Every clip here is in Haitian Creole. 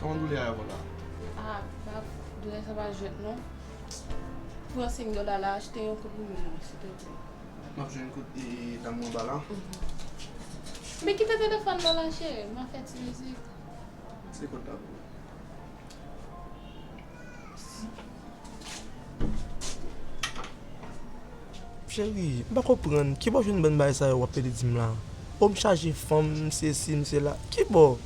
Kòman doulè a konn la? Ah bab, doulè sa pa jwèt non. Pran 5 dola la achte yon kout pou mwen silteplè. M ap jwenn kout e dam nan anba la. Men kite telefòn lan la cheri, m ap fè ti mizik. Se kòd la pou ou. Cheri, m pa konprann, ki bo w jwenn bann bagay sa yo w ap pede di m la? O m chaje fanm, m sesi, m sela. Ki bo?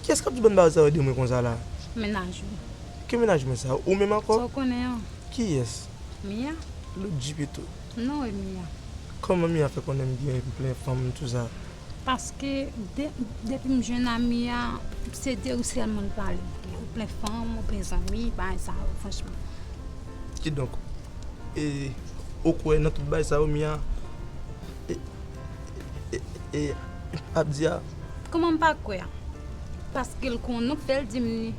Ki yès k ap di w bann bagay sa yo de mwen konsa la? Mennaj ou. Ki mennaj mwen sa? Ou menm ankò? Sa w konnen an? Ki yès? Mia. Lòt ji pito. Non e Mia. Kòman Mia fè konnen m gen plen fanm tou sa. Paske depim jwenn a Mia se de ou sèlman li pale ou plen fanm ou plen zanmi bagay sa yo franchman. Kidonk e ou kwè nan tout bagay sa yo Mia ap di a. Kòman m pa kwè a. Paske l konnen ou k fè l dim li.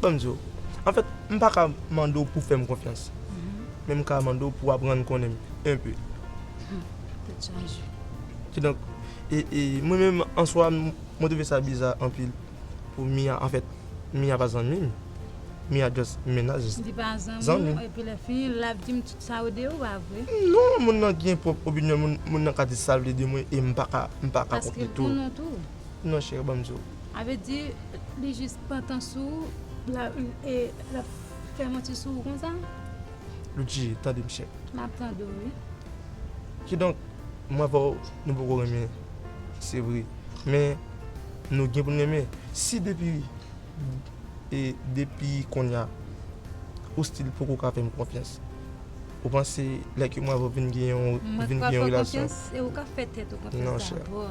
Bon m di w, anfèt, m pa ka mande w pou w fè m konfyans. Men m ka mande w pou w aprann konnen m enpe. Tèt chaje. Kidonk, mwen menm an swa, mwen twouve sa biza anpil pou Mia. Anfèt, Mia pa zanmi m. Mia just menaj. Li pa zanmi w, epi lè fini l ap di m tout sa yo de ou, pa vre? Non, moun nan gen pwòp opinyòn l, moun nan ka di sa l vle de mwen e m pa ka kont li tou. Paske l konn ou tou. non chère banm di w. Avè di li jis pantan sou ou e lap fè manti sou ou konsa. Loutchi tande m chère. Map tande w wi. Kidonk mwen avè w nou poko renmen se vre men nou gen pou n renmen si depi e depi konnya ou stil poko ka fè m konfyans ou panse lè ke mwen avè w vin gen yon vin gen yon relasyon. Mwen pral fè w konfyans e ou ka fè tèt ou konfyans dabò.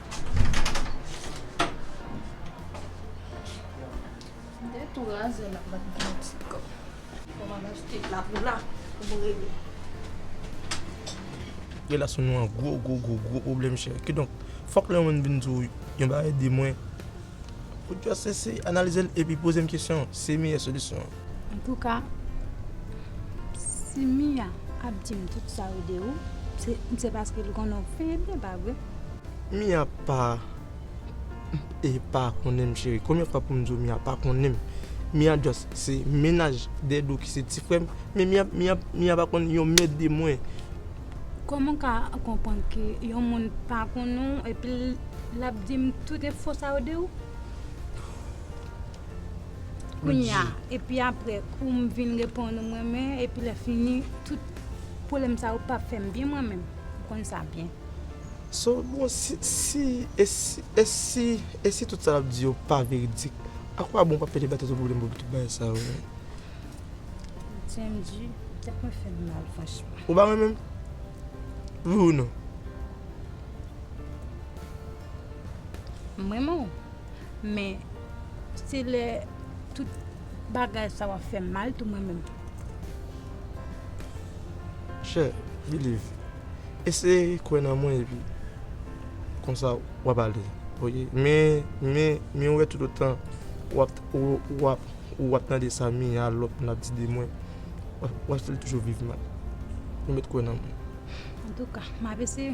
Relasyon nou an gwo gwo gwo gwo pwoblèm chè. Kidonk, fòk lè yon moun vin di w yon bagay ede mwen, pou w analize l epi poze m kesyon, se meyè solisyon an. Antouka, si Mia ap di m tout sa yo de ou, se paske l konnen w febe, pa vre? Mia pa e pa konnen m cheri. Konbyen fwa pou m di w Mia pa konnen m? Mia just se mennaj Dedou ki se ti frè m. Men Mia pa konn yon mèd de mwen. Kòman w ka konprann ke yon moun pa konnen w epi l ap di m tout enfo sa yo de ou? Kounya epi aprè poum vin reponn ou mwen men epi lè fini tout pwoblèm sa yo pap fèm byen mwen menm ou konn sa byen. So bro si si e si e si e si tout sa lap di yo pa veridik a kwa bon wap pèdi batay sou pwoblèm pou tout bagay sa yo menm. Chendy tèt mwen fèm mal franchman. Ou pa renmenm? Wi ou non? M renmen w, men se lè tout bagay sa w ap fè m mal tou m renmen w. Chè, biliv, eseye kwè nan mwen epi konsa w ap ale. Men wè toutotan w ap tande sa mi a lòt moun ap di de mwen, w ap fè l toujou viv mal. Remèt kwè nan mwen. Antouka, m ap eseye.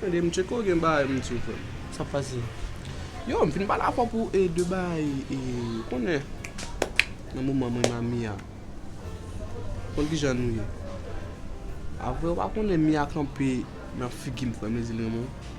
Tande m tcheko gen bagay m di w frè m. Sa k pase? Yo m fin pale avè w pou de bagay e ou konnen nan moman mwen nan Mia ou konn kijan nou ye. Apre ou pa konnen Mia kanpe nan figi m frè m li di l renmen w.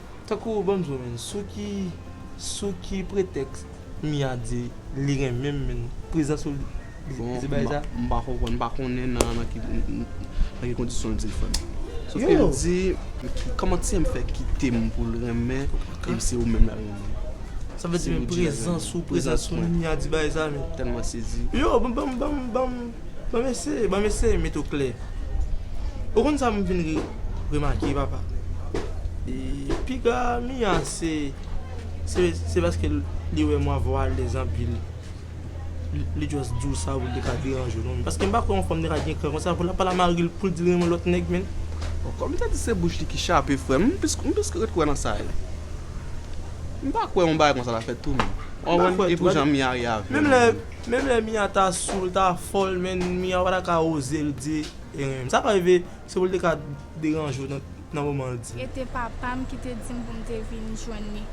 Tankou banm sou menn sou ki sou ki pretèks Mia di li renmenm menn prezans ou li di bay sa. Bon m pa konprann m pa konnen nan ki nan ki kondisyon l di l fè m. Sof ke l di kòman ti a m fè kite m pou l renmen e m se ou menm l al renmen. Sa vle di men prezans ou prezans Mia di bay sa menn. Tèlman sezi. Yo banm banm banm. Ban m eseye, ban m eseye met ou klè. Ou konn sa m vin remake papa? Piga Mia se se paske li wè mwen avèw alèz anpil li just di w sa pou li pa deranje w non men. Paske m pa kwè yon fanm te ka gen kran konsa pou l ap pale a mari l pou l di l renmen lòt nèg menn. Kòm m te di se bouch li ki chape frè m, m plis ret kwè nan sa yo. M pa kwè yon bagay konsa ta fèt tou menm. Ou konprann? E pou jan Mia ye avè l. Menm lè Mia ta sou l ta fòl men Mia pata ka oze l di e renmnl sa pa rive se pou l te ka deranje w nan moman l di. Ete papam ki te dim poum te vin jwenn li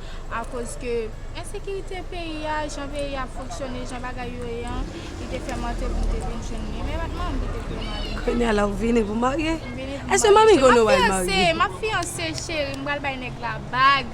akoz ke ensekirite peyi a jan peyi a ap fonksyone jan bagay yo ye an li te fè mante poum te vin jwenn li men pat manmanm ki te voye m ale. Kounya la ou vini pou marye? M vini pou marye. Eske manmi konnen wal marye? Map fiyanse map fiyanse cheri m pral bay nèg la bag.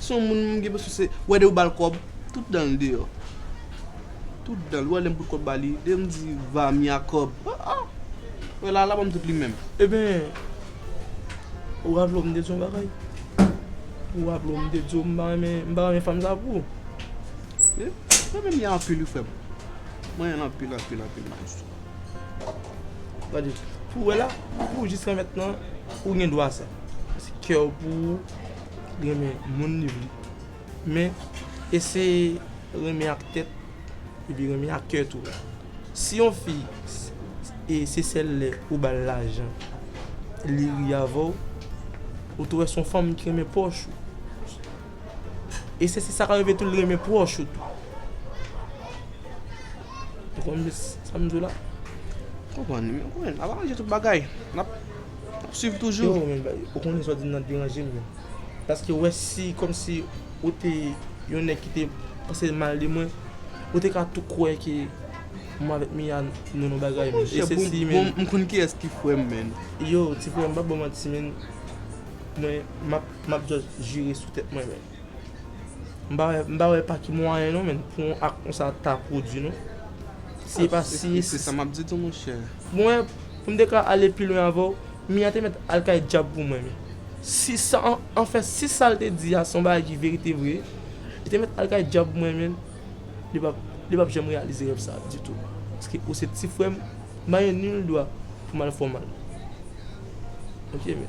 Son moun m gen presyon se wè dew bal kob tout danl deyò tout danl ou wè lèm bout kob bali dem di vamia kob ah ah wè lala banm tout li menm. Eben ou raple w m te di w yon bagay ou raple w m te di w m pa renmen m pa renmen fanm sa pou ou. Mwen renmen mia anpil wi frèm mwen renmenl anpil anpil anpil maestro. Gade pou wè la pou jis kèmèt lan ou gen dwa sa se kew pou ou. Renmen moun li vle. Men, eseye renmen ak tèt epi renmen ak kè tou. Si yon fi se sèl lè ou ba l lajan li ri avè w, ou te wè se yon fanm ki renmen pòch ou. E se sa k ap rive tou, li renmen pwòch ou tou. Ou konprann sa m di w la? M konprann. N ap aranje tout bagay. Swiv toujou. Yo men ou konnen sa w di m nan deranje m menn. Paske wè si kòmsi ou te yon nèg ki te panse mal de mwen, ou te ka tou kwè ke mwen avèk Mia nou yon bagay menn. E se si menn. M konn kiyès ki frè m menn. Yo ti frè m pa ba w manti menn. Mwen m ap just jire sou tèt mwen menn. M pa wè pa ki mwayen non men pou yon ak konsa ta pwodwi non. Si e pa si. E se sa map di tou monchè. Mwen, pou m te ka ale pi lwen avè w, Mia te mèt al kay dyab pou mwen men. Si sa, anfen, si sa l te di a se yon bagay ki verite vre, li te mèt al kay dyab pou mwen men, li pap, li pap janm reyalize rèv sa a ditou. Paske ou se ti frè m, m pa gen nil dwa pou m al fè w mal. Ok men.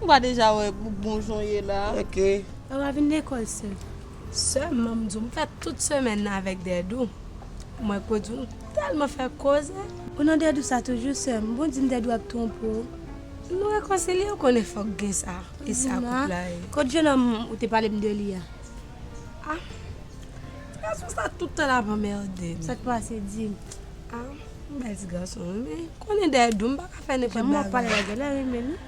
Ou pa deja wè bon jan w ye la. Ok. Lè wap vin lekòl se sèlman m di w m fè tout semèn nan avèk Dèdou. Mwen ko di w m tèlman fè koze. Ou nan Dèdou sa toujou sè m. Bon di m Dèdou ap twonpe w. Nou rekonsilye ou konnen fòk gen sa. E sa koup la ye. Kot jenòm ou te pale m de li a? Ah gason sa tout tan lap anmède m. Sak pase di m. Ah m bèl ti gason wi men konnen Dèdou m paka fè nenpòt bagay. Jan m wè w pale la genlè renmen l wi.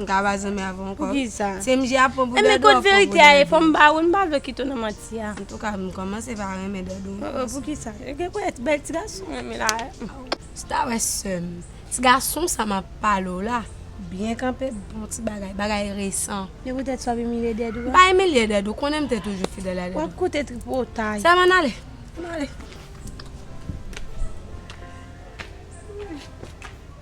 M ka pa zanmi avè w ankò. Poukisa? Se mnje ap pran pou dadou ap pran pou dadou. E men kot verite a ye fò m ba ou m pa vle w kite w nan manti a. Antouka m kòmanse pa renmen dadou m. Oh oh poukisa? Yo gen pou èt bèl ti gason menm la. Si ta wè sè m. Ti gason sa m ap pale w la byen kanpe bon ti bagay, bagay resan. E poutèt sa w ap imilye dadou a? M pa imilye dadou, ou konnen m te toujou fidèl a dadou. W ap koute tripotay. Sèlman n ale. N ale.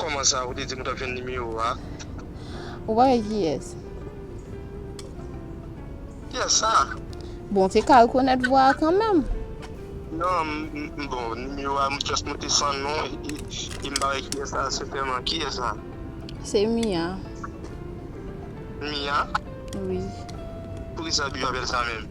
Koman sa ou te dim ou tap jwenn nimewo a. Ou pa wè kiyès. Kiyès sa? Bon te ka rekonèt vwa a kanmèm. Non m bon nimewo a m just note san non e m pa wè kiyès sa sentèman. Kiyès sa? Se Mia. Mia? Wi. Poukisa ou toujou apèl sa menm?